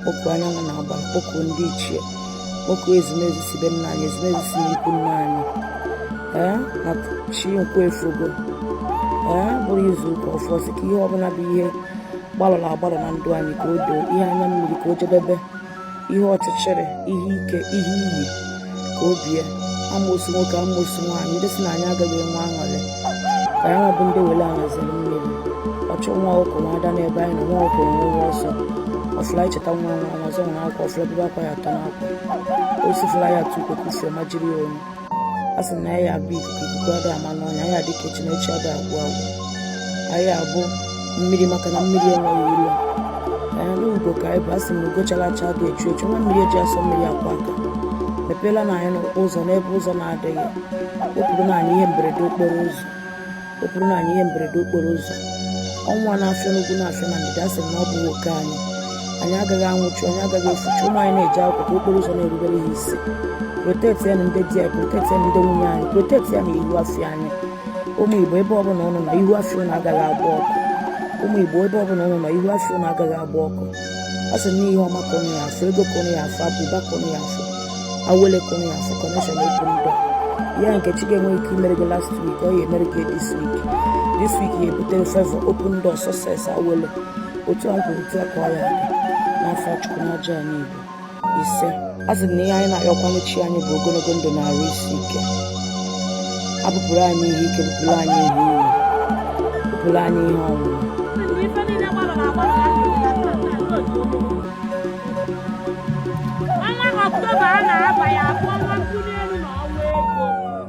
kpọkuo anyanwụ na agbala kpọkuo ndị ichie kpọkuo ezumezu si be nna anyị ezumezu si n'ikwu nna anyị ee na chi nkwọ efogo ya bụrụ izu ụka ọfụụ sị ka ihe ọbụla bụ ihe gbalọrọ agbalọ na ndụ anyị ka o doo ihe anya mmiri ka o jedebe ihe ọchịchịrị ihe ike ihe iyi ka o bie amosu nwoke amosu nwaanyị ndị si na anyị agaghị enwe aṅụrị ka ya bụ ndị wele anaziri mmiri ọchụ nwa ọkụkọ nwe ada n'ebe anyị nọ nwa ọkụkọ nwe nwa ọsọ ọ fụlụ anyị cheta nwa nwa nwa ọzọ nwere akwa ọ fụlụ anyị bebe akwa ya atọ n'akwa osi fụla ya atụ ukwe kufie ma jiri ya onye a sị na anyị bụ ikuku ikuku ada ama n'ọnya anyị dịka echi na echi ada agwụ agwụ anyị abụ mmiri maka na mmiri enweghị ilo anyị n'ugo ka anyị bụ asị m ugo chara acha ada echu echu nwa mmiri eji asọ mmiri akwọ aka mepeelụ nụ anyị n'ụkwụ ụzọ n'ebe ụzọ na-adịghị wepụrụ nụ anyị ihe mberede okporo ụzọ wepụrụ nụ anyị ihe mberede okporo ụzọ ọnwa na-afịa n'ugwu na-afịa na ndịda asị m na ọ bụghị oke anyị anyị agaghị anwụchu anyị agaghị efuchu ụmụ anyị na-eje akwụkwọ ka okporo ụzọ na-erubere ha isi proteti ya na ndị di anyị proteti ya na ndị nwunye anyị proteti ya na ihu afịa anyị ụmụ igbo ebe ọbụla ụnụ nọ ihu afịa ụnụ agaghị agba ọkụ ụmụ igbo ebe ọbụla ụnụ nọ ihu afịa ụnụ agaghị agba ọkụ a sị na ihe ọma ka ụnụ ya afụ ego ka ụnụ ya afụ abụba ka ụnụ ya afụ awele ka ụnụ ya afụ connection open door ya nke chi gị enweghị ike imere gị last week ọ ya emere gị this week this week ya ebutere favor open door success awele otu a kwuru otu a ka ọ ya dị n'afa chukwu na ajana igbo ise a sị na ihe anyị na-ayọkwanụ chi anyị bụ ogologo ndụ na arụ isi ike bupụrụ anyị ihe ike bupụrụ anyị ihe iwu bupụrụ anyị ihe ọnwụnwa